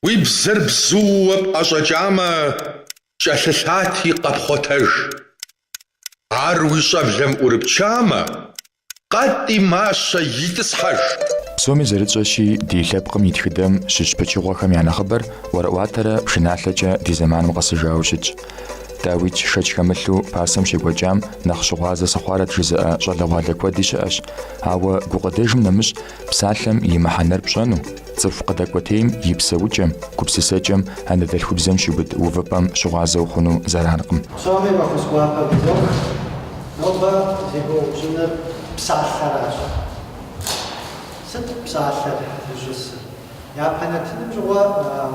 Уи бзэр бзууэ пӏэщӏэкӏамэ, кӏэлъылъати, къэпхъуэтэж. Ар уи щӏэблэм ӏурыпчамэ, къэтӏи мащэ итӏысхьэж. Псоми зэрытщӏэщи, ди лъэпкъым и тхыдэм щыщ пычыгъуэхэм я нэхъыбэр ӏуэрыӏуатэрэ пшыналъэкӏэ ди зэманым къэсыжауэ щытщ. Дауикӏ шэч хэмылъу пасэм щекӏуэкӏам нэхъ щыгъуазэ сыхъуарэт жызыӏэ щӏалэгъуалэ куэди щыӏэщ, ауэ гукъыдэжым нэмыщӏ Псалъэм и мыхьэнэр пщӏэну, цӏыху къыдэкӏуэтейм и псэукӏэм, гупсысэкӏэм, анэдэлъхубзэм щиубыд увыпӏэм щыгъуазэ ухъуну зэранкъым. Псоми фӏэхъус гуапэ фызох. Нобэ зегуэупщӏыныр псалъэращ. Сыт псалъэр зыщӏысыр? Япэ нэтыным щыгъуэ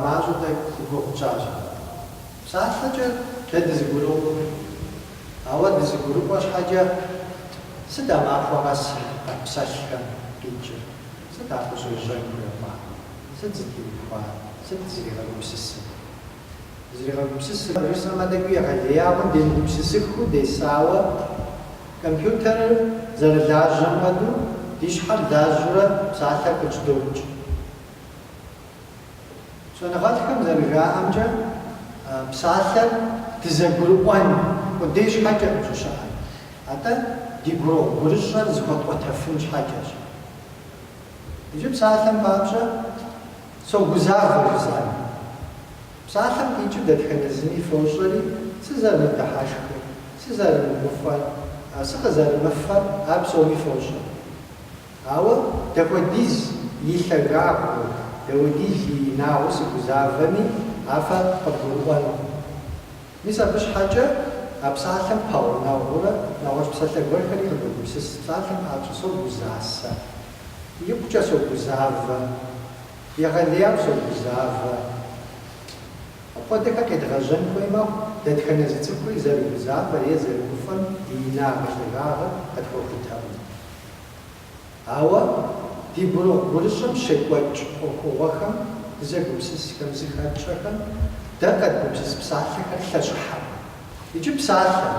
мащӏэу дэ и гугъу тщӏащ. Псалъэкӏэ дэ дызэгуроӏуэ. Ауэ дызэгурыӏуэ щхьэкӏэ, сыт а махуэ къэс къэтпсэлъхэм къикӏыр? Сыт а къыщӏежьэн хуей хъуар? Сыт зытеухуар? Сыт зригъэгупсысыр? Зригъэгупсысыр жысӏэмэ, тӏэкӏуи егъэлеяуэ демыгупсысыххэу десауэ, компьютерыр зэрылажьэм хуэдэу, ди щхьэр лажьэурэ псалъэр къыджьэдокӏ. Щӏэныгъэлӏхэм зэрыжаӏэмкӏэ, псалъэр дызэгурыӏуэн къудей щхьэкӏэкъым щӏыщыӏэр, атӏэ ди гурыгъу-гурыщӏэр зэхуэтӏуэтэфын щхьэкӏэщ. Иджы псалъэм папщӏэ согузавэ жысӏэн. Псалъэм къикӏыу дэтхэнэ зыми фощӏэри, сызэрымыдыхьэшхыр, сызэрымыгуфӏэр, сыкъызэрымыфэр ар псоми фощӏэ. Ауэ дапхуэдиз и лъагагъыу, дапхуэдиз и инагъыу сыгузавэми, а фэ къывгурыӏуэнукъым. Мис абы щхьэкӏэ а псалъэм пэгъунэгъуурэ нэгъуэщӏ псалъэ гуэрхэри къыдогупсыс, псалъэм папщӏэ согузасэ, икъукӏэ согузавэ, егъэлеяуэ согузавэ. Апхуэдэхэр къедгъэжьэн хуей мэхъу дэтхэнэ зы цӏыхури зэрыгузавэр е зэрыгуфӏэм и инагъ-и лъагагъыр къытхуэхутэкъым. Ауэ ди гурыгъу-гурыщӏэм щекӏуэкӏ ӏуэхугъуэхэм, дызэгупсысхэм зыхэтщӏэхэм дэ къэдгупсыс псалъэхэр лъэщӏыхьэкъым. Иджы псалъэ.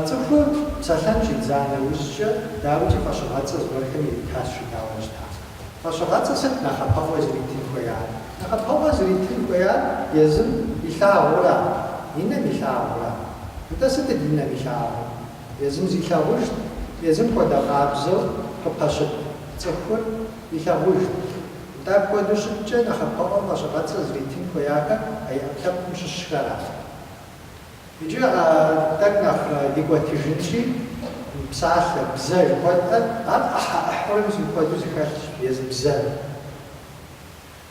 Цӏыхур псэлъэн щӏидза нэужькӏэ, дауикӏи фӏэщыгъэцӏэ зыгуэрхэм иритащ жытӏауэ щыта. Фӏэщыгъэцӏэ сыт нэхъапэӏуэ зритын хуеяр? Нэхъапэӏуэ зритын хуеяр езым илъагъура, и нэм илъагъура? Нтӏэ сытыт и нэм илъагъур? Езым зилъагъужт, езым хуэдэ къабзэу къыпэщыт цӏыхур илъагъужт. Нтӏэ апхуэдэу щыткӏэ, нэхъапэӏуэм фӏэщыгъэцӏэ зритын хуеяхэр а и ӏэпкълъэпкъым щыщхэращ. Иджы тӏэкӏу нэхъ дикӏуэтыжынщи, псалъэ, бзэ жыхуэтӏэр, ар ӏыхьэ ӏыхьэурэ зыхуэдэу зыхэлъщ езы бзэр.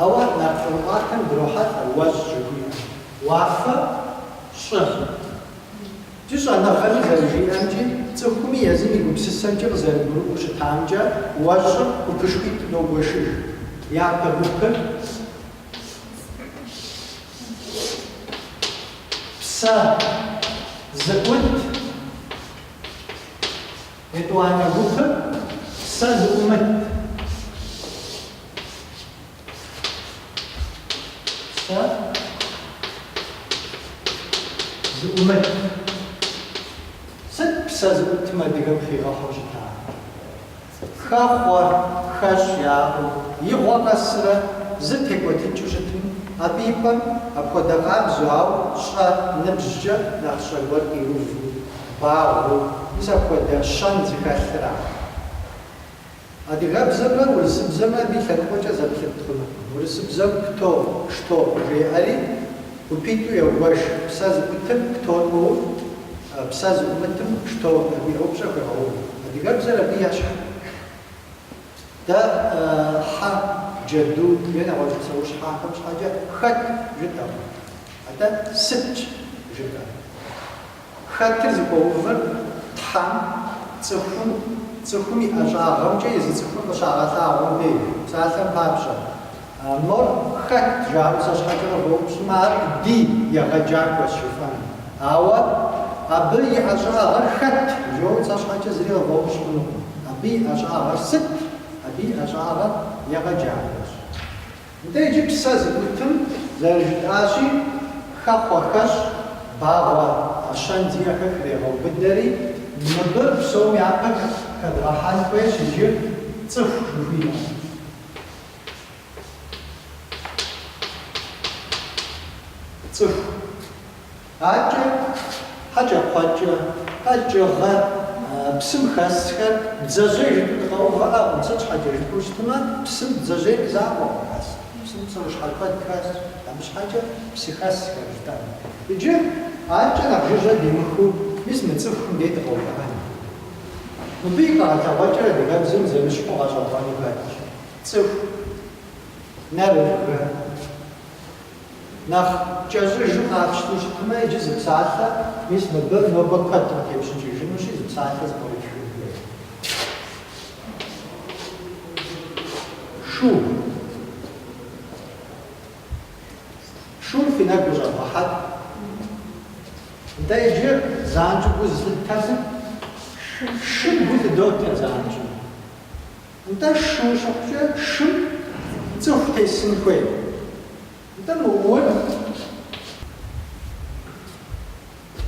Ауэ нарт ӏуэрыӏуатэм дрохьэлӏэ уэщӏ жыхуиӏэм. Уафэ, щӏы. Ди щӏэныгъэми зэрыжиӏэмкӏи, цӏыхуми езым и гупсысэмкӏэ къызэрыгурыӏуэу щытамкӏэ, уэщӏыр гупышхуитӏу догуэшыж. Япэ гупыр, псэ, зыӏут, етӏуанэ гупыр, псэ зыӏумыт. Псэ зыӏумыт. Сыт псэ зыӏутым адыгэм хигъэхьу щыта? Хэхъуэ, хэщӏ яӏэу, и гъуэ къэсрэ зы текӏуэтыкӏыу щытым, абы и пӏэм апхуэдэ къабзэу, ауэ щӏэ ныбжькӏэ нэхъ щӏэ гуэр къиуву, багъуэу, мис апхуэдэ щэн зыхэлъыра? Адыгэбзэмрэ урысыбзэмрэ абы и лъэныкъуэкӏэ зэплъыт хъунукъым. Урысыбзэм кто, что жеӏэри гупитӏу егуэш, псэ зыӏутым кто хуоув, псэ зыӏумытым что жиӏэу упщӏэ хуегъэув. Адыгэбзэр абы ещхьыркъым. Дэ хьэ, джэду е нэгъуэщӏ псэущхьэхэм щхьэкӏэ хэт жытӏэкъым, атӏэ сытщ жытӏэр. Хэтыр зыхуэувыр Тхьэм, цӏыхум, цӏыхум и ӏэщӏагъэмкӏэ езы цӏыхур къыщагъэлъагъуэм дей псалъэм папщӏэ. Мор хэт жаӏэу сэ щхьэкӏэ къывэупщӏмэ, ар ди егъэджакӏуэщ жыфӏэнут. Ауэ абы и ӏэщӏагъэр хэт жиӏэу сэ щхьэкӏэ зыри къывэупщӏ хъунукъым. Абы и ӏэщӏагъэр сыт? Абы и ӏэщӏагъэр егъэджакӏуэщ. Нтӏэ иджы псэ зыӏутым зэрыжытӏащи, хэхъуэ, хэщӏ, багъуэ, а щэн зиӏэхэр хрегъэубыдэри, мыбы псом япэ хэдгъэхьэн хуейщ иджы цӏыху жыхуиӏэр. Цӏыху. Адэкӏэ, хьэкӏэкхъуэкӏэ, къэкӏыгъэ, псым хэсхэр, бдзэжьей жыпӏи дыкъэувыӏэкъым, сыт щхьэкӏэ жыпӏэу щытмэ, псым бдзэжьей закъуэкъым хэс, псым псэущхьэ куэд хэс, абы щхьэкӏэ псыхэсхэр жытӏэнут. Иджы адэкӏэ нэхъ жыжьэ димыхыу, мис мы цӏыхум дей дыкъэувыӏэнут. Мыбы и къэгъэлъэгъуэкӏэр адыгэбзэм зэмыщхьу гъэщӏэгъуэну хэтщ, цӏыху, нэр, жыхуиӏэм. Нэхъ кӏэщӏыжу къапщту щытмэ, иджы зы псалъэ, мис мыбы нобэ куэд къытепщӏыкӏыжынущи, зы псалъэ зэпкърытхын хуей. Шу. Шур фи нэгу къыщӏэвгъэхьэт. Нтӏэ, иджы занщӏэу гу зылъыттэр сыт? Шу. Шым гу лъыдоттэ занщӏэу. Нтӏэ, шу щыхъукӏэ, шым цӏыху тесын хуей. Нтӏэ, мы ур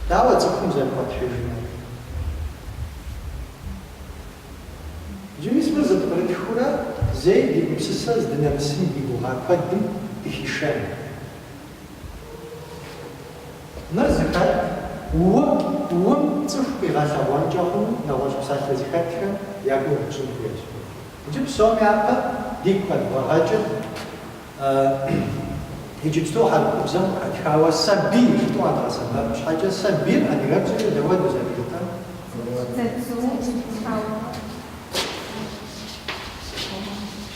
дауэ цӏыхум зэрыхуэтхьыжынур? Иджы мис мыр зэпкърытхыурэ, зэи ди гупсысэ здынэмысым ди гугъа куэдым дыхишэн. Мыр зыхэт ум, ум цӏыху къигъэлъэгъуэнкӏэ хъуну нэгъуэщӏ псалъэ зыхэтхэм я гугъу тщӏын хуейщ. Иджы псом япэ дигу къэдывгъэгъэкӏыж иджыпсту хьэрыпыбзэм къыхэтхауэ сабий жытӏэу къэдгъэсэбэп щхьэкӏэ, сабийр адыгэбзэкӏэ дауэ дэ зэрыжытӏэр?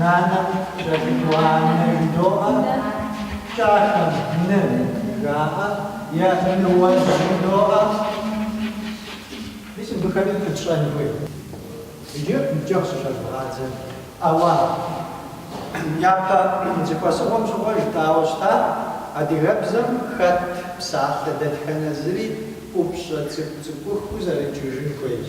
Нанэм кӏэлъыкӏуэ анэ жыдоӏэ, кӏахэм ны жаӏэ, е ныуэ жыдоӏэ. Мис мыбыхэри къэтщӏэн хуей. Иджы ныбжьэгъу щыщӏэдывгъадзэ. Ауэ япэ зэхуэсыгъуэм щыгъуэ жытӏауэ щытар адыгэбзэм хэт псалъэ дэтхэнэ зыри ӏупщӏэ цӏыкӏу-цӏыкӏухэу зэрыджыжын хуейщ.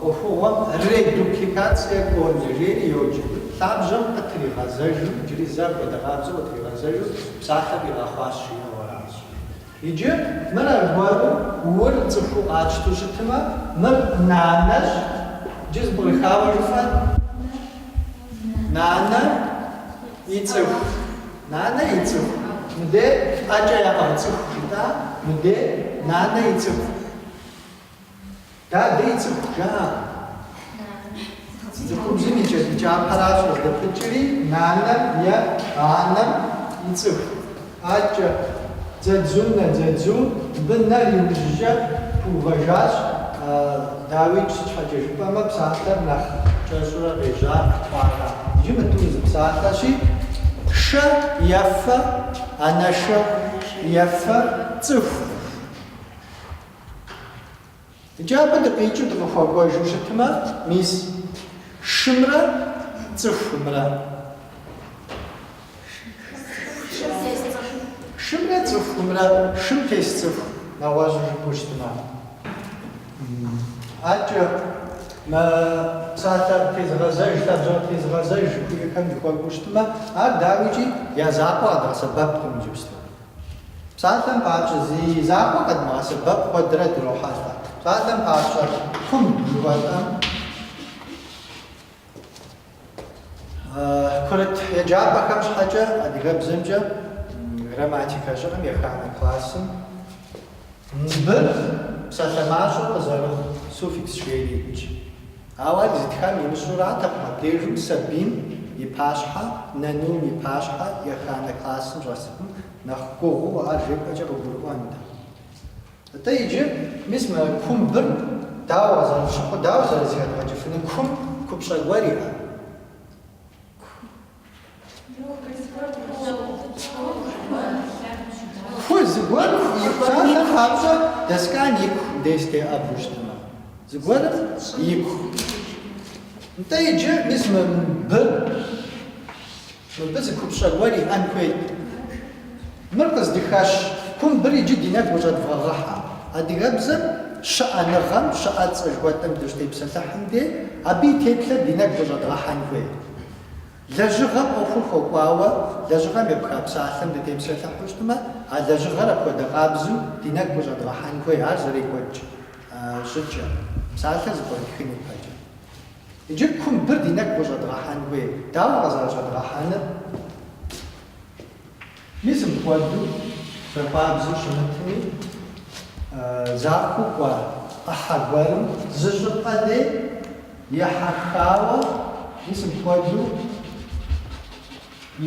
ӏуэхугъуэм редупликацие кондэ жери йоджэ. Лъабжьэм къытригъэзэжу, иджыри зэ апхуэдэ къабзэу къытригъэзэжу псалъэ къигъэхъуащ жиӏэу аращ. Иджы мыр аргуэру ур цӏыхуу къатщту щытмэ, мыр нанэщ, иджы зэпкърыхауэ жыфӏэр нанэ и цӏыху, нанэ и цӏыху, мыдей ӏэкӏэ яӏыгъ цӏыху жытӏа, мыдей нанэ и цӏыху. Дадэ и цӏыху жаӏэ. Цӏыхубзым и кӏэлъыкӏапэращ къыздэпыкӏри нанэм е анэм и цӏыху. Адэкӏэ, Дзэдзунэ, Дзэдзу, мыбы нэр иужькӏэ пыувэжащ, дауи, сыт щхьэкӏэ жыпӏэмэ псалъэр нэхъ кӏэщӏурэ къежьа хъуахэм. Иджы мы тӏур зы псалъэщи, шэ ефэ, анэшэ ефэ цӏыху. Иджы абы дыкъикӏыу дыкъыхуэкӏуэжу щытмэ, мис шымрэ цӏыхумрэ? Шымрэ цӏыхумрэ, шым тес цӏыху нэгъуэщӏу жыпӏэу щытмэ. Аркӏэ мы псалъэ тезыгъэзэж, лъабжьэ тезыгъэзэж жыхуиӏэхэм дыхуэкӏуэу щытмэ, ар дауикӏи я закъуэ къэдгъэсэбэпкъым иджыпсту. Псалъэм папщӏэ, зи закъуэ къэдмыгъэсэбэпу куэдрэ дрохьэлӏэ. Псалъэм папщӏэ, кумб жыхуэтӏэм курыт еджапӏэхэм щхьэкӏэ адыгэбзэмкӏэ грамматикэ щыӏэм еханэ классым быр псалъэ мащӏэу къызэрыхъу суффикс жеири итщ. Ауэ ар зитхам имыщӏуратэкъым абдежым сабийм и пащхьэ, нанийм и пащхьэ еханэ классым щӏэсыпым нэхъ гугъуу ар жепӏэкӏэ къыгурыӏуэнт. Атӏэ иджы, мис мы кумбыр дауэ зэрыщыхъу, дауэ зэрызыхэдгъэкӏыфыну кум купщӏэ гуэр иӏэ? Ку зыгуэр и псалъэм папщӏэ доскам ику деж теӏэбу щытмэ, зыгуэрым ику. Нтӏэ иджы мис мы бы, мыбы зы купщӏэ гуэр иӏэн хуейт. Мыр къыздыхэщ кумбыр иджы ди нэгу къыщӏэдывгъэгъэхьэ. Адыгэбзэм щыӏэныгъэм, щыӏэцӏэ жыхуэтӏэм дыщытепсэлъыхьым де, абы и теплъэр ди нэгу къыщӏэдгъэхьэн хуейт. Лэжьыгъэм ӏуэхур хуэкӏуауэ лэжьыгъэм епха псалъэм дытепсэлъыхьу щытмэ, а лэжьыгъэр апхуэдэ къабзу ди нэгу къыщӏэдгъэхьэн хуей ар зэрекӏуэкӏ щӏыкӏэр, псалъэр зэпкърытхын ипэкӏэ. Иджы кумбыр ди нэгу къыщӏэдгъэхьэн хуей, дауэ къызэрыщӏэдгъэхьэныр? Мис мыпхуэдэу захуабзэу щымытми, захуэу кӏуа ӏыхьэ гуэрым зы щӏыпӏэ деж ехьэхауэ мис мыпхуэдэу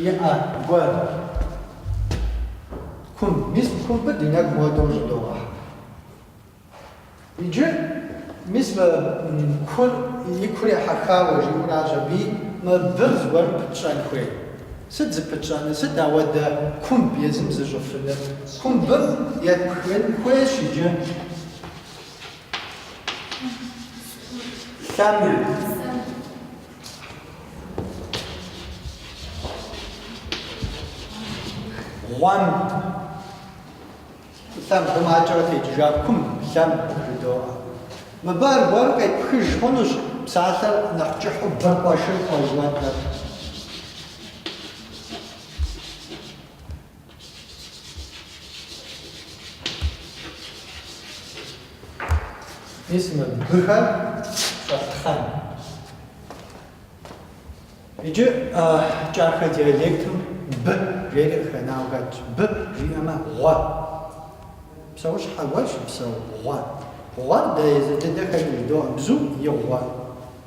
иӏэ гуэр кумб, мис мы кумбыр ди нэгу мыпхуэдэу щӏыдогъэхьэ. Иджы, мис мы кур и кур ехьэхауэ жиӏуращ аби, мы быр зыгуэрым пытщӏэн хуей. Сыт зыпытщӏэныр, сыт ауэдэ кумб езым зыщӏыфыныр? Кумбыр епхын хуейщ иджы. Лъэм. Гъуэм. Лъэмб гъумакӏэрэ текӏыжа кумб, лъэмб жыдоӏэ. Мыбы аргуэру къепхыж хъунущ псалъэр нэхъ кӏыхьу быркъуэшыркъуэ жыхуэтӏэр. Мис мы быхэр щӏэфтхъэн. Иджы кӏахэ диалектым бы жери къыхэнауэ хэтщ. Бы жиӏэмэ гъуэ. Псэущхьэ гуэр щыпсэу гъуэ. Гъуэр дэ езы дыдэхэм жыдоӏэ бзум и гъуэ,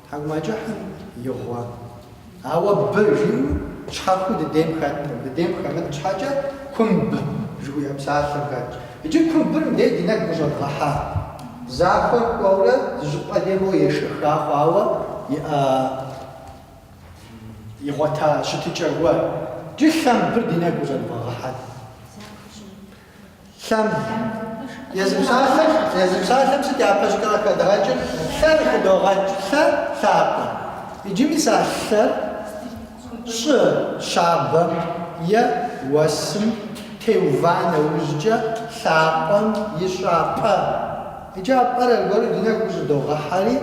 тхьэкӏумэкӏыхьым и гъуэ. Ауэ бы жиӏэу щхьэхуэу дыдейм хэткъым. Дыдейм хэмыт щхьэкӏэ кумб жыхуиӏэ псалъэм хэтщ. Иджы кумбыр мыбдеж ди нэгу къыщӏэдгъэхьа. Захуэр кӏуэурэ зыщӏыпӏэ дей моуэ ешэха хъуауэ иӏэ. игъуэта щытыкӏэуэ, иджы лъэмбыр ди нэгу къыщӏэдывгъэгъэхьэт. Лъэмб езы псалъэм сыт япэщӏыкӏэ къыхэдгъэкӏыр? Лъэр хыдогъэкӏ, лъэ, лъапӏэ. Иджы мис а лъэр щӏы щабэм е уэсым теува нэужькӏэ лъапӏэм ищӏа пӏэ. Иджы а пӏэр аргуэру ди нэгу къыщӏыдогъэхьэри,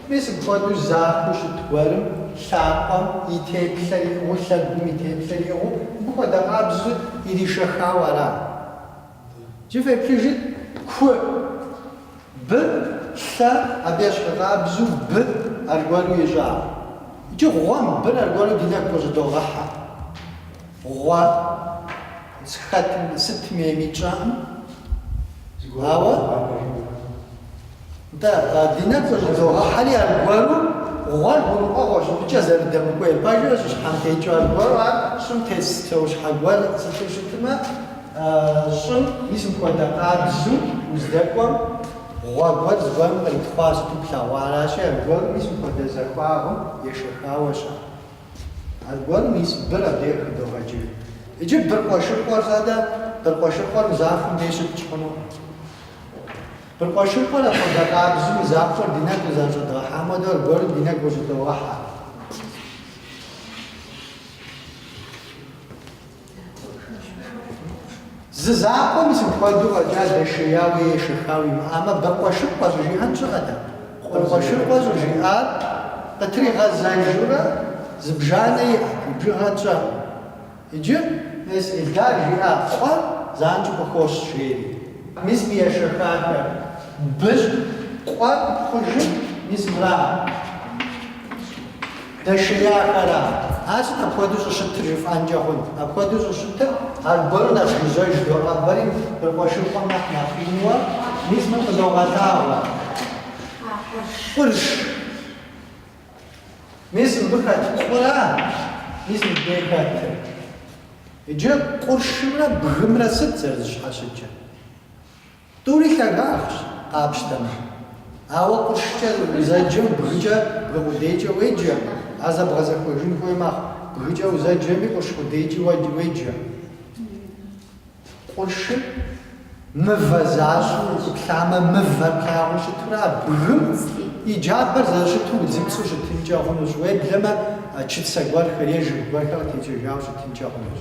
мис мыпхуэдэу захуэу щыт гуэрым, лъапӏэм и теплъэр иӏыгъыу, лъэгум и теплъэр иӏыгъыу, мыбы хуэдэ къабзэу иришэхауэ ара? Иджы феплъыжыт, ку, бы, лъэ, абы ещхьу къабзэу бы аргуэру ищӏа? Иджы гъуэмбыр аргуэру ди нэгу къыщӏыдогъэхьэ. Гъуэ. Зыхэтым сытми емитщӏакъым. Ауэ нтӏэ, ди нэгу къыщӏыдогъэхьэри аргуэру гъуэр гурыӏуэгъуэщ, щӏыӏукӏэ зэрыдэмыкӏуейр пэжыр щӏыщхьэм текӏыу аргуэру ар щӏым тес псэущхьэ гуэр щыпсэууэ щытмэ, щӏым мис мыпхуэдэ къабзу уздэкӏуэм гъуэ гуэр зыгуэрым къритхъуа сыту плъэгъуа аращи, аргуэру мис мыпхуэдэ захуагъым ешэхауэщ ар. Аргуэру мис быр адрейр хыдогъэкӏыж. Иджы быркъуэшыркъуэр фэдэ, быркъуэшыркъуэр мы захуэм дей щытщӏ хъунукъым. Быркъуэшыркъуэр апхуэдэ къабзу мы захуэр ди нэгу къызэрыщӏэдгъэхьам хуэдэу аргуэру ди нэгу къыщӏыдогъэхьэ. Зы закъуэ мис мыпхуэдэу фӏэкӏа дэшеяуэ е ешэхауэ имыӏамэ, быркъуэшыркъуэ щӏыжиӏэн щыӏэтэкъым. Быркъуэшыркъуэ щӏыжиӏар къытригъэзэжурэ зыбжанэ иӏэщ, бжыгъэ тщӏэкъым. Иджы мис Ильдар жиӏа къуэр занщӏэу къыхощ, жери. Мис мы ешэхахэр быщ, къуэр хъужым мис мыракъэ. Дэшеяхэрэ ар сыт апхуэдэу щӏыщытыр жыфӏэнкӏэ хъунт. Апхуэдэу щӏыщытыр аргуэру нэс гужьэж доӏэбэри быркъуэшыркъуэм нэхъ нэхъ инуэ, мис мыр къызогъэлъагъуэ. Къурш. Мис мыбы хэт къура мис мыбдей хэтыр. Иджы къуршымрэ бгымрэ сыт зэрызыщхьэщыкӏыр? Тӏури лъагагъщ къапщтэмэ. Ауэ къуршкӏэ узэджэм бгыкӏэ бгы къудейкӏэ уеджэ, ар зэбгъэзэхуэжын хуей мэхъу, бгыкӏэ узэджэми къурш къудейкӏи уеджэ. Къуршыр мывэ защӏэу уплъамэ, мывэр плъагъуу щытурэ а бгым и джабэр зэрыщыту удзыпцӏэу щытынкӏэ хъунущ, уеблэмэ чыцэ гуэрхэр е жыг гуэрхэр къытекӏэжауэ щытынкӏэ хъунущ.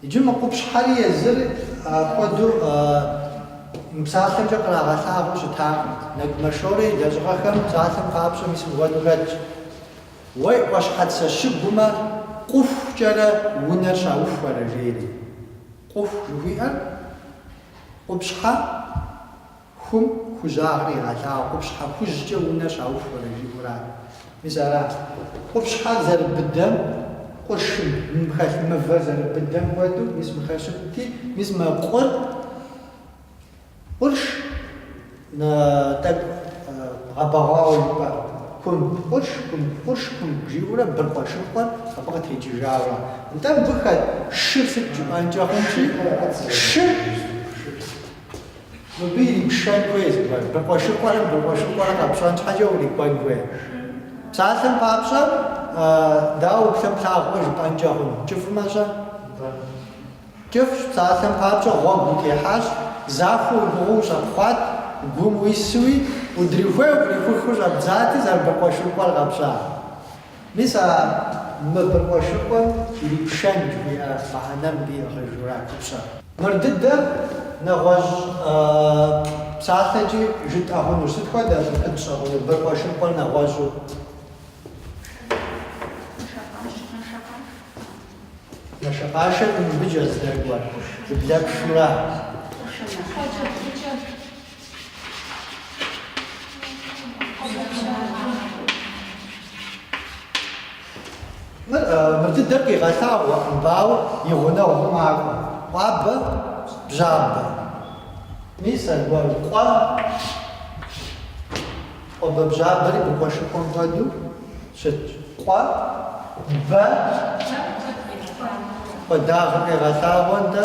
Иджы мы къупщхьэри езыр хуэдэу мы псалъэмкӏэ кърагъэлъагъуэу щытакъым. Нэгумэ Шорэ и лэжьыгъэхэм псалъэм папщӏэ мис мыпхуэдэу хэтщ. Уэ и ӏуащхьэцэ щыгумэ къухукӏэрэ унэр щаухуэрэ? жери. Къуху жыхуиӏэр къупщхьэ Хум хужьагъэр игъэлъагъуэу, къупщхьэ хужькӏэ унэ щаухуэрэ жиӏэу ара? Мис ара? Къупщхьэр зэрыбыдэм, къуршым, мым хэлъ мывэр зэрыбыдэм хуэдэу, мис мыхэщыти, мис мы къур, къурш, тӏэкӏу гъэбэгъуауэ жыпӏэ, хум къурш, хум къурш, хум жиӏэурэ быркъуэшыркъуэр абы къытекӏыжауэ. Нтӏэ, мыбы хэт шыр сыт жыпӏэнкӏэ хъунщи, шыр. Мыбы ирипшэн хуейщ дэ. Быркъуэшыркъуэм, быркъуэшыркъуэр къэпщӏэн щхьэкӏэ урикӏуэн хуей. Псалъэм папщӏэ, дауэ уплъэм плъагъумэ жыпӏэнкӏэ хъуну? Кӏыфӏмэ-щэ? Кӏыфӏщ, псалъэм папщӏэ, гъуэгу утехьащ, захуэу уигугъэу ущӏэпхъуат, гум уису, удрихуей-укърихухыу щӏэбдзати, зэрыбыркъуэшыркъуэр къэпщӏар. Мис а мы быркъуэшыркъуэм ирипшэн жыхуиӏэ мыхьэнэм ди гъэжура купщӏэ? Мыр дыдэ, нэгъуэщӏ псалъэкӏи жытӏэ хъуну. Сыт хуэдэу къэпщӏэну быркъуэшыркъуэр нэгъуэщӏу? Нэшэкъашэ мыбыкӏэ здэкӏуэр, зыблэпшу ара? Мыр дыдэр къигъэлъагъуэу мыбы ауэ и гъунэгъуу макӏуэ къуэбэбжьабэ. Мис аргуэру къуэ, къуэбэбжьабэри быркъуэшыркъуэм хуэдэу щытщ. Къуэ, бэ, куэдагъэ къегъэлъагъуэ нтӏэ.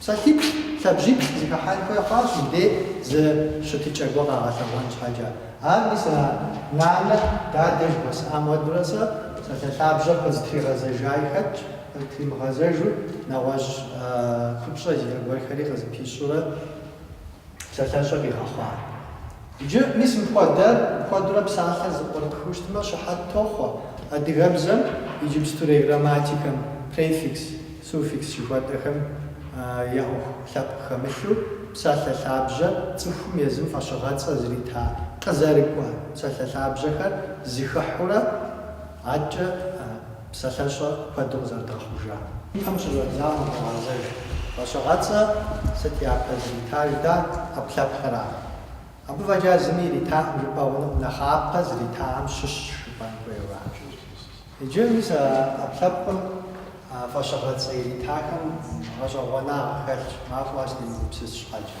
Псалъиплӏ, лъабжьиплӏ зыхыхьэн хуей хъуащ мыбдей зы щытыкӏэ гуэ къагъэлъэгъуэн щхьэкӏэ. Ар мис а нанэ, дадэ жыхуэсыӏам хуэдурэ сэ псалъэ лъабжьэр къызытригъэзэжаи хэтщ, къызытримыгъэзэжу нэгъуэщӏ купщӏэ зиӏэ гуэрхэри къызыпищурэ. псалъэщӏэ къигъэхъуа. Иджы, мис мыпхуэдэр куэдурэ псалъэ зыпкърытхыу щытмэ, щыхьэт тохъуэ адыгэбзэм иджыпстурей грамматикэм префикс, суффикс жыхуэтӏэхэм я ӏуэху лъэпкъ хэмылъу псалъэ лъабжьэ цӏыхум езым фӏэщыгъэцӏэ зрита къызэрыкӏуэ псалъэ лъабжьэхэр зыхыхьурэ адэкӏэ Псалъэщӏэ куэду къызэрыдгъэхъужам. Ипэм щыщӏэдзам къыдогъэзэж. Фӏэщыгъэцӏэ сыт япэ зритар жытӏа, ӏэпкълъэпкъра? Абы фӏэкӏа зыми иритаӏым жыпӏэ хъунуӏым нэхъапэ зритахэм щыщщ жыпӏэн хуейуэ. Иджы мис а ӏэпкълъэпкъым а фӏэщыгъэцӏэ иритахэм гъэщӏэгъуэнагъ хэлъщ, махуэ къэс демыгупсыс щхьэкӏэ.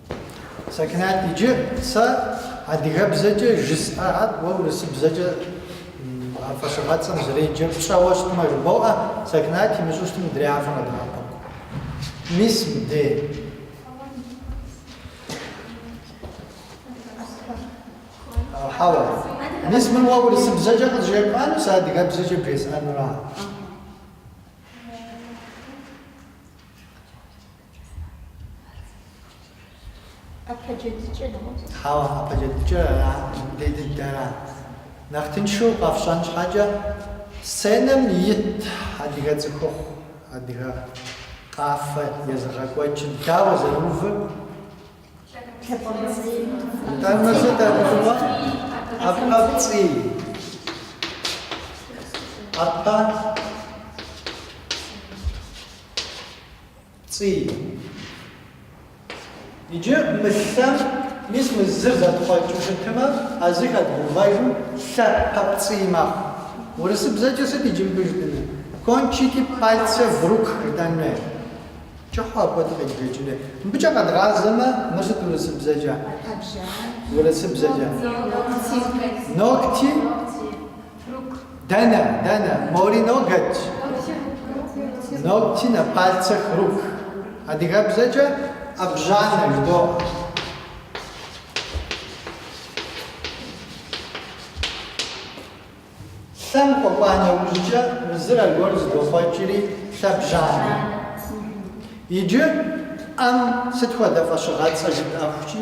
Сакинат, иджы сэ адыгэбзэкӏэ жысӏэхэр уэ урысыбзэкӏэ а фӏэщыгъэцӏэм зэреджэр пщӏэуэ щытмэ жыбоӏэ, Сакинат имыщӏу щытым мыдрей фэ фыкъыдэӏэпыкъу. Мис мыбдей. Хьэуэ. Мис мыр уэ урысыбзэкӏэ къызжепӏэну, сэ адыгэбзэкӏэ бжесӏэнура? ӏэпэджэдыкӏэ нэгъуэщӏ. Хьэуэ, ӏэпэджэдыкӏэр ара, дей дыдэра? Нэхъ тыншу къэфщӏэн щхьэкӏэ, сценэм ит адыгэ цӏыхухъу, адыгэ къафэ езыгъэкӏуэкӏыр дауэ зэрыувыр? Тэмэм, тэмэм, дэгъуэ, ӏэпэпцӏий, ӏэпэ Цӏий. Иджы мы лъэм, мис мы зыр зэтхъуэкӏыу щытымэ, а зы хэдгъэувэжым лъэпэпцӏий мэхъу. Урысыбзэкӏэ сыт иджы мыбы жытӏэнур? Кончики пальцев рук жытӏэн хуей. Кӏыхьу апхуэдэу къеджэкӏын хуей. Мыбыкӏэ къэдгъазэмэ, мыр сыт урысыбзэкӏэ? Урысыбзэкӏэ. Ногти. Дэнэ, дэнэ, мори ноготь. Ногти на пальцах рук. Адыгэбзэкӏэ ӏэбжьанэ жыдоӏэ. Лъэм къэкӏуа нэужькӏэ мы зыр аргуэру зыдохъуэкӏри лъэбжьанэ. Иджы ӏэм сыт хуэдэ фӏэщыгъэцӏэ жытӏэхукӏи.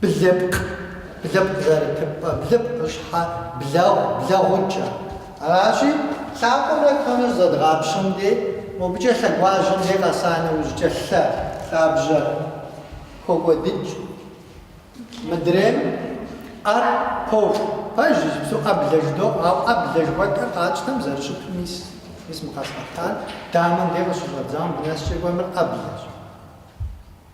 Блыпкъ, блыпкъ зэрытыпӏэ, блыпкъыщхьэ, блэгъу, блэгъукӏэ. Аращи, лъакъуэмрэ куэмрэ зэдгъапщэм дей, мобыкӏэ лъэгуажьэм дей къэса нэужькӏэ лъэ, лъабжьэ хокӏуэдыкӏ. Мыдрейм ӏэр поху. Пэж иджыпсту ӏэблэ жыдоӏэ, ауэ ӏэблэ жыхуэтӏэр къатщтэм зэрыщыту мис, мис мы къэсӏэтар дамэм дей къыщыщӏэдзауэ мыбы нэскӏэ къомыр ӏэблэщ.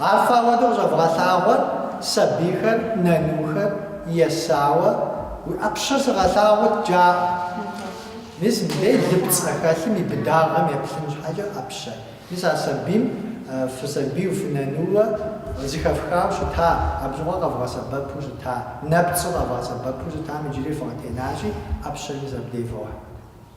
Ар фэ апхуэдэу къыщӏэвгъэлъагъуэр сабийхэр, нанухэр, есауэ, уи ӏэпщэр сыгъэлъагъут, жаӏэрт. Мис мыбдей лыпцӏ къыхэлъым и быдагъэм еплъын щхьэкӏэ ӏэпщэ. Мис а сабийм фысабийу, фынанууэ зыхэфхауэ щыта, абы щыгъуэ къэвгъэсэбэпу щыта, нэпцӏу къэвгъэсэбэпу щытам иджыри фыкъытенащи, ӏэпщэ мис абдей вохь.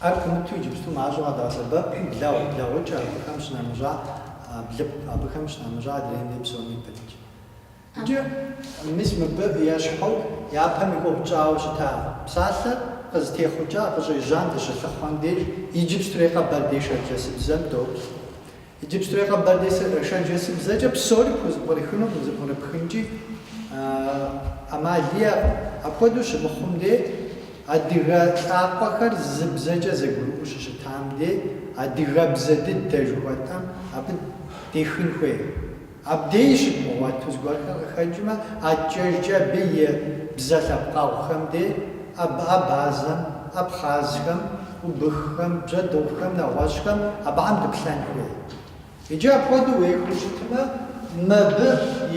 Ар пымыту иджыпсту мащӏэу къэдгъэсэбэп блэгъу, блэгъукӏэ абыхэм щынэмыщӏа блыпкъ, абыхэм щынэмыщӏа адрейми псоми пытщ. Иджы мис мыбы ещхьу япэм и ӏуэху тщӏауэ щыта псалъэр къызытехъукӏа, къыщӏежьам дыщылъыхъуэм деж иджыпстурей къэбэрдей-шэрджэсыбзэм доплъ. Иджыпстурей къэбэрдей-шэрджэсыбзэкӏэ псори пхузэбгрыхыну къызэбгрыпхынкӏи ӏэмал иӏэкъым. Апхуэдэу щымыхъум дей, адыгэ лӏакъуэхэр зы бзэкӏэ зэгурыӏуэу щыщытам дей, адыгэбзэ дыдэ жыхуэтӏэм абы дехын хуей. Абдеж щыдмыгъуэту зыгуэрхэр къыхэкӏмэ, адэкӏэжкӏэ абы и бзэ лъэпкъэгъухэм де, абы абазэм, абхъазхэм, убыххэм, бжьэдыгъухэм, нэгъуэщӏхэм, абыхэм дыплъэн хуей. Иджы апхуэдэу уехыу щытмэ, мыбы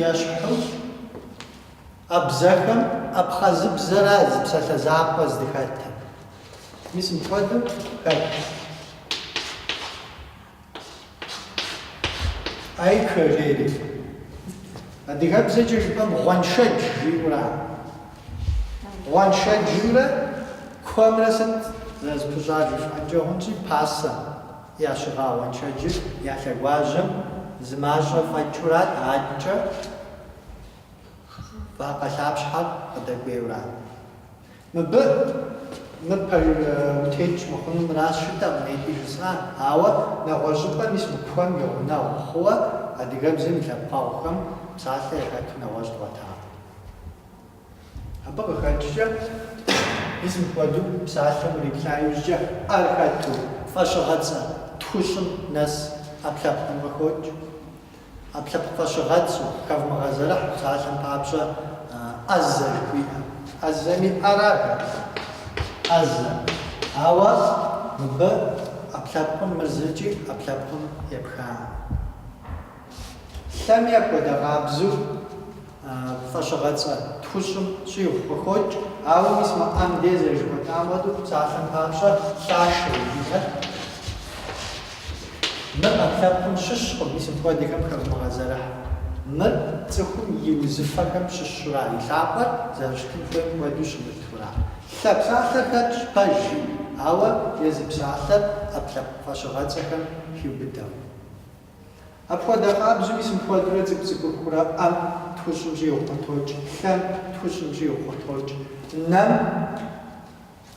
ещхьу а бзэхэм абхъазыбзэра зы псалъэ закъуэ здыхэтым. Мис мыпхуэдэу хэт. Айкуа жери, адыгэбзэкӏэ жыпӏэм гъуэншэдж жиӏэу ара. Гъуэншэджымрэ куэмрэ сыт зэрызэпыщӏар жыфӏэнкӏэ хъунщи, пасэм ящыгъа гъуэншэджыр я лъэгуажьэм зы мащӏэ фӏэкӏыурат, адэкӏэ вакъэ лъапщхьэр къыдэкӏуейурат. Мыбы мы пэ утекӏ мыхъуну мыращ жытӏэкъым ехи жысӏар, ауэ нэгъуэщӏыпӏэ мис мы куэм и гъунэгъу хъууэ адыгэбзэм и лъэпкъэгъухэм псалъэ яхэту нэгъуэщӏ дгъуэтакъым. Абы къыхэкӏкӏэ, мис мыпхуэдэу псалъэм уриплъа иужькӏэ ӏэр хэту, фӏэщыгъэцӏэ тхущӏым нэс ӏэпкълъэпкъым къыхокӏ. Ӏэпкълъэпкъ фӏэщыгъэцӏэу, хэвмыгъэзэрыхь псалъэм папщӏэ ӏэзэ жыхуиӏэр. ӏэзэми ӏэрат абы, ӏэзэ. Ауэ мыбы ӏэпкълъэпкъым мыр зыкӏи ӏэпкълъэпкъым епхакъым. Лъэми апхуэдэ къабзэу. фӏэщыгъэцӏэ тхущӏым щӏигъу къыхокӏ, ауэ мис мы ӏэм де зэрыжыхуэтӏам хуэдэу псалъэм папщӏэ лъашэр мыр ӏэпкълъэпкъым щыщкъым, мис мыпхуэдэхэм хэвмыгъэзэрыхь. Мыр цӏыхум и узыфэхэм щыщура, и лъакъуэр зэрыщытын хуейм хуэдэу щымытура? Лъэ псалъэ хэтщ пэж жи, ауэ езы псалъэр ӏэпкълъэпкъ фӏэщыгъэцӏэхэм хиубыдэу. Апхуэдэ къабзэуи мис мыпхуэдэурэ цӏыкӏу цӏыкӏухурэ ӏэм тхущӏым щӏигъу къытокӏ, лъэм тхущӏым щӏигъу къытокӏ, нэм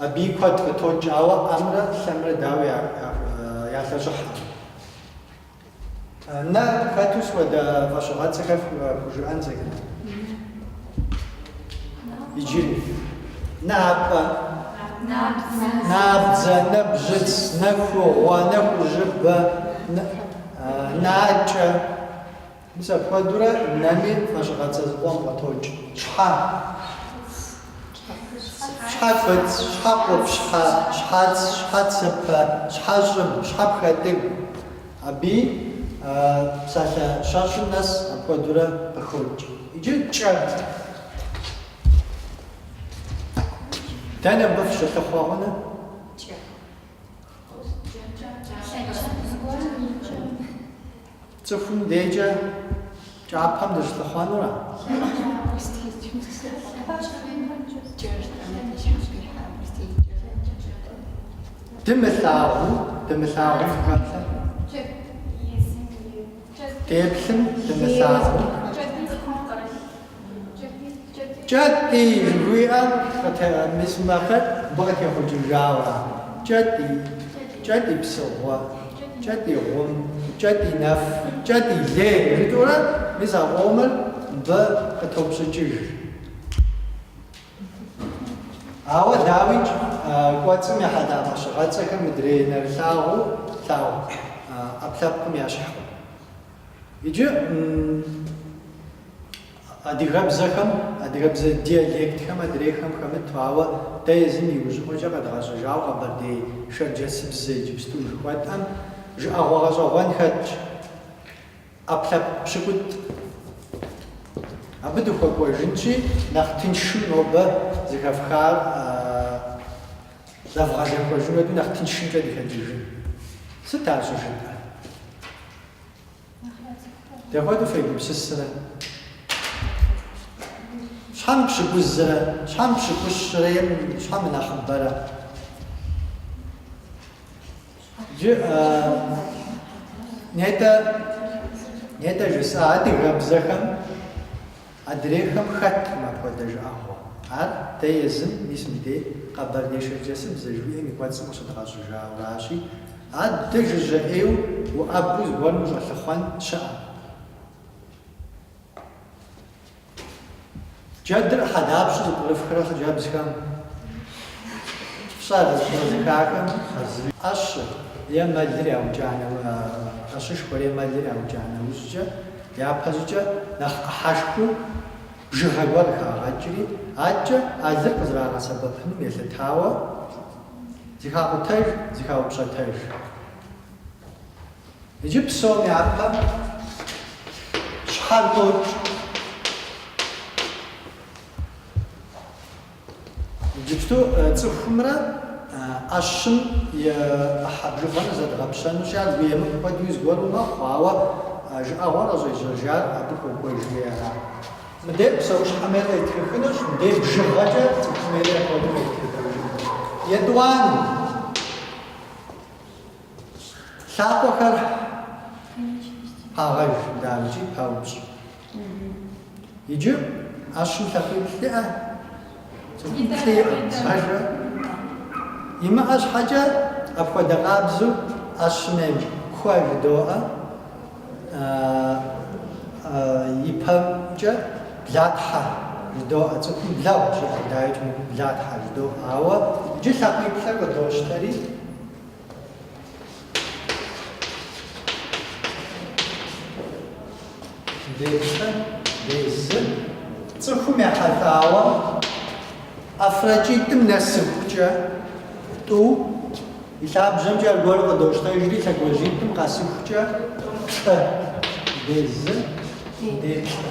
абыи куэд къытокӏ, ауэ ӏэмрэ лъэмрэ дауэ ялъэщӏыхьэ? Нэ хэту сыт хуэдэ фӏэщыгъэцӏэхэр фхужыӏэн зэкӏэ. Иджыри. Напӏэ. Набдзэ, нэбжьыц, нэхугъуэ, нэхужьыбэ, накӏэ. Мис апхуэдурэ нэми фӏэщыгъэцӏэ зыкъом къытокӏ. Щхьэ. Щхьэфэц, щхьэкъупщхьэ, щхьэц, щхьэцыпэ, щхьэщӏыб, щхьэпхэтӏыгу. Абыи псалъэ щэщӏым нэс апхуэдурэ къыхокӏ. Иджы кӏэ. Дэнэ мыбы фыщылъыхъуэ хъуныр? Кӏэ. Цӏыхум декӏэ. Кӏапэм дыщылъыхъуэнура? Дымылъагъуу, дымылъагъум хэплъэ. Деплъым, дымылъагъум. Кӏэтӏий! жыхуиӏэм мис макъыр мыбы къытехъукӏыжауэ ар. Кӏэтӏий! Кӏэтӏий псыгъуэ! Кӏэтӏий гъум! Кӏэтӏий нэф! Кӏэтӏий лей! жытӏэурэ мис а къомыр мыбы къытопщӏыкӏыж. Ауэ дауикӏ, кӏуэцӏым ехьэлӏа фӏэщыгъэцӏэхэр мыдрей нэрылъагъуу тлъагъу ӏэпкълъэпкъым ящхькъым. Иджы. Адыгэбзэхэм, адыгэбзэ диалектхэм адрейхэм хэмыту, ауэ дэ езым иужьыӏуэкӏэ къэдгъэщӏыжауэ къэбэрдей шэрджэсыбзэ иджыпсту жыхуэтӏэм жыӏэгъуэ гъэщӏэгъуэн хэтщ. ӏэпкълъэпкъ пщыкӏутӏ. Абы дыхуэкӏуэжынщи, нэхъ тыншым нобэ зыхэфхар зэвгъэзэхуэжын хуэдэу нэхъ тыншымкӏэ дыхэкӏыжын. Сыт ар щӏыжытӏэр? Дапхуэдэу фегупсысрэ? Хьэмэ пщыкӏузрэ? Хьэмэ пщыкӏущрэ? Хьэмэ нэхъыбэрэ? Джы нетӏэ нетӏэ жысӏа адыгэбзэхэм Адрейхэм хэт мыпхуэдэ жыӏэгъуэ? Ар дэ езым, мис мыбдей къэбэрдей-шэрджэсыбзэ жыхуиӏэм и кӏуэцӏым къыщыдгъэщӏыжауращи, адэ жыжьэ ӏейуэ уӏэбэу зыгуэрым ущӏэлъыхъуэн щыӏэкъым. Джэдыр ӏыхьэ дапщэу зыпкърыфхрэ хъыджэбзхэм? Пщӏэрэ зыхахэм? ӏэщыр е мэлыр яукӏа нэ, ӏэщышхуэр е мэлыр яукӏа нэужькӏэ, Япэщӏыкӏэ нэхъ ӏыхьэшхыу бжыгъэ гуэр хагъэкӏри, адэкӏэ а лыр къызэрагъэсэбэпыным елъытауэ, зыхакъутэж, зыхаупщӏэтэж. Иджы псом япэ щхьэр къокӏ. Иджыпсту цӏыхумрэ ӏэщым и ӏыхьэ бжыгъэмрэ зэдгъэпщэнущи, ар емыкӏу хуэдэуи зыгуэру мэхъу, ауэ жыӏэгъуэр къыщӏежьэжар абы хуокӏуэжри ара. Мыдей псэущхьэм ей къетхыхынущ, мыдей бжыгъэкӏэ цӏыхум ей хуэдэу къетхыхыжынущ. Етӏуанэу, лъакъуэхэр пагъэж, дауикӏи паупщӏ. Иджы ӏэщым лъакъуиплӏ иӏэ, цӏыхуплӏи иӏэ, ажрэ? Имыӏэ щхьэкӏэ апхуэдэ къабзу ӏэщым ей куэ жыдоӏэ, и пэмкӏэ блатхьэ жыдоӏэ, цӏыхум блэгъу жиӏэ, дауикӏ мыбы блатхьэ жыдоӏэ, ауэ иджы лъакъуиплӏыр къыдощтэри, Дежкъэ, дезы. Цӏыхум ехьэлӏауэ ӏэфракӏитӏым нэсыхукӏэ тӏу, и лъабжьэмкӏэ аргуэру къыдощтэжри, лъэгуажьитӏым къэсыхукӏэ плӏы. Дезы, дежкъэ.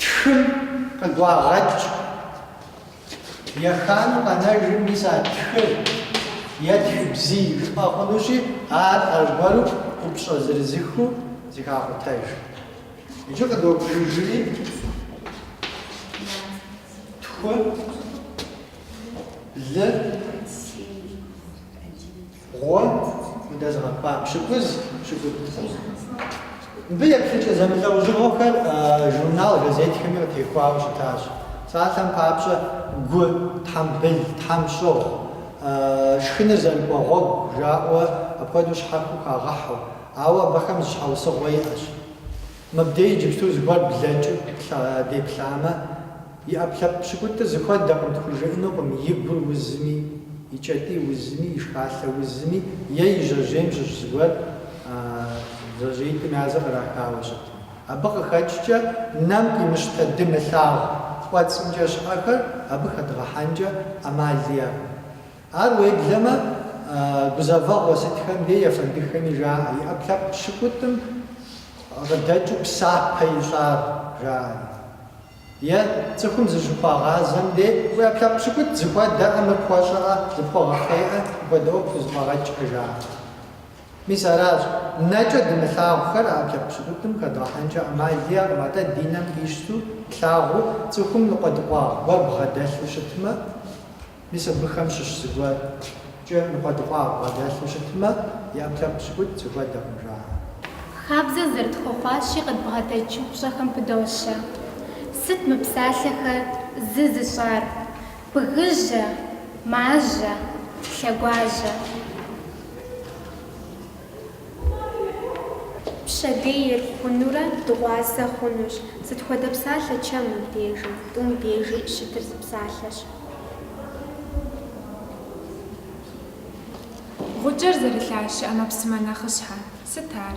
Тхыр къыгуагъэкӏ. Еханэу къэнэжым мис а тхыр е тхыбзий жыпӏэ хъунущи, ар аргуэру ӏупщӏэ зырызыхыу зыхакъутэж. Иджы къыдобжыжри, тху, блы, Гъуэ удэзыгъэкӏуа пщыкӏуз, пщыкӏутӏ хъун. Мыбы еплъыкӏэ зэмылӏэужьыгъуэхэр журнал, газетхэми къытехуауэ щытащ. Псалъэм папщӏэ, гу, тхьэмбыл, тхьэмщӏыгъу, шхыныр зэрыкӏуэ гъуэгу жаӏэуэ апхуэдэу щхьэхуэу хагъэхьэу, ауэ абыхэм зы щхьэусыгъуэ иӏэщ. Мыбдеж иджыпсту зыгуэр блэкӏыу деплъамэ, и ӏэпкълъэпкъ пщыкӏутӏыр зыхуэдэкъым тхужыӏэнукъым и гур узми, и кӏэтӏий узми, и шхалъэ узми е и жьэжьейм щыщ зыгуэр жьэжьеитӏым яз кърахауэ щытми. Абы къыхэкӏкӏэ нэм къимыщтэ дымылъагъу кӏуэцӏымкӏэ щыӏэхэр абы хэдгъэхьэнкӏэ ӏэмал иӏэкъым. Ар уеблэмэ, гузэвэгъуэ сытхэм дей ефэндыхэми жаӏэ, и ӏэпкълъэпкъ пщыкӏутӏым къыдэкӏыу псапэ ищӏар, жаӏэри. Е, цӏыхум зыщыхуагъазэм дей, уи ӏэпкълъэпкъ пщыкӏутӏ зыхуэдэӏэ, мыр пхуэщӏыӏэ, зыпхуэгъэхъейӏэ, мыпхуэдэ ӏуэху пхузэфӏэгъэкӏкъэ, жаӏэри. Мис аращ. Нэкӏэ дымылъагъухэр а ӏэпкълъэпкъ пщыкӏутӏым хэдгъэхьэнкӏэ ӏэмал иӏэкъым, атӏэ ди нэм къищту плъагъуу цӏыхум ныкъуэдыкъуагъ гуэр бгъэдэлъу щытмэ, Мис абыхэм щыщ зыгуэркӏэ ныкъуэдыкъуагъ бгъэдэлъу щытмэ, и ӏэпкълъэпкъ пщыкӏутӏ зыхуэдэкъым, жаӏэ. Хабзэ зэрытхуэхъуащи къыдбгъэдэкӏ упщӏэхэм пыдощэ. Сыт мы псалъэхэр зы зыщӏар? Бгыжьэ, мажьэ, лъэгуажьэ. Пщэдейр хъунурэ дыгъуасэ хъунущ. Сыт хуэдэ псалъэ чэмым дежи, тӏум дежи щытыр зы псалъэщ. Гъукӏэр зэрылъащэ ӏэмэпсымэ нэхъыщхьэ. Сыт ар?